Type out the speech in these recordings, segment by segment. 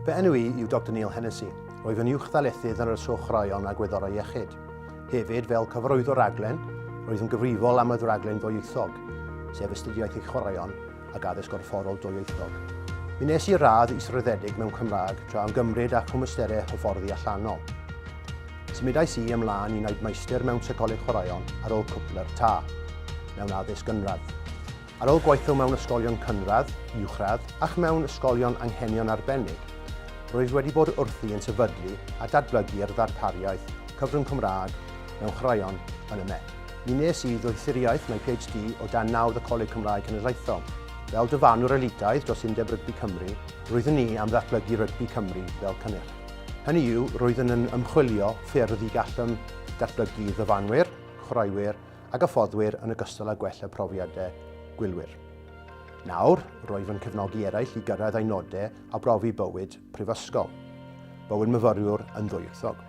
Fy enw i yw Dr Neil Hennessy. Rwyf yn uwchddarlithydd yn yr Ysgol Chwaraeon a Gwyddorau Iechyd. Hefyd, fel cyfarwyddwr raglen, roedd yn gyfrifol am y ddraglen ddwyieithog, sef astudiaeth eich chwaraeon ac addysg gorfforol dwyieithog. Mi nes i radd israddedig mewn Cymraeg tra am gymryd â chwmysterau hyfforddi allanol. Symudais i ymlaen i wneud maestr mewn seicoleg chwaraeon ar ôl cwpl yr ta, mewn addysg gynradd. Ar ôl gweithio mewn ysgolion cynradd, uwchradd ac mewn ysgolion anghenion arbennig, rwyf wedi bod wrthi yn sefydlu a datblygu'r ddarpariaeth Cyfrwng Cymraeg mewn Chwaraeon yn y Met. Mi wnes i ddoethuriaeth mewn PhD o dan nawdd y Coleg Cymraeg Cenedlaethol. Fel dyfarnwr elitaidd dros Undeb Rygbi Cymru, roeddwn ni am ddatblygu rygbi Cymru fel cynnyrch. Hynny yw, roeddwn yn ymchwilio ffyrdd y gallem ddatblygu ddyfarnwyr, chwaraewyr a gyffoddwyr yn ogystal â gwella profiadau gwylwyr. Nawr, roedd yn cefnogi eraill i gyrraedd eu nodau a brofi bywyd prifysgol. Bywyd myfyriwr yn ddwyieithog.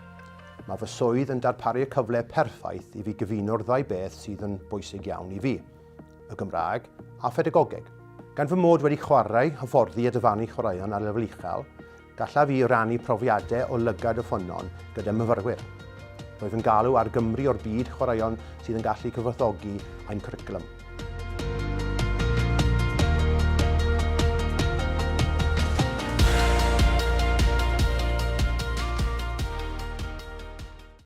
Mae fy swydd yn darparu y cyfle perffaith i fi gyfuno'r ddau beth sydd yn bwysig iawn i fi, y Gymraeg a phedagogeg. Gan fy mod wedi chwarae, hyfforddi a dyfarnu chwaraeon ar lefel uchel, Gallaf i rannu profiadau o lygad y ffynnon gyda myfyrwyr. Roedd yn galw ar Gymru o'r byd chwaraeon sydd yn gallu cyfoethogi ein cwricwlwm.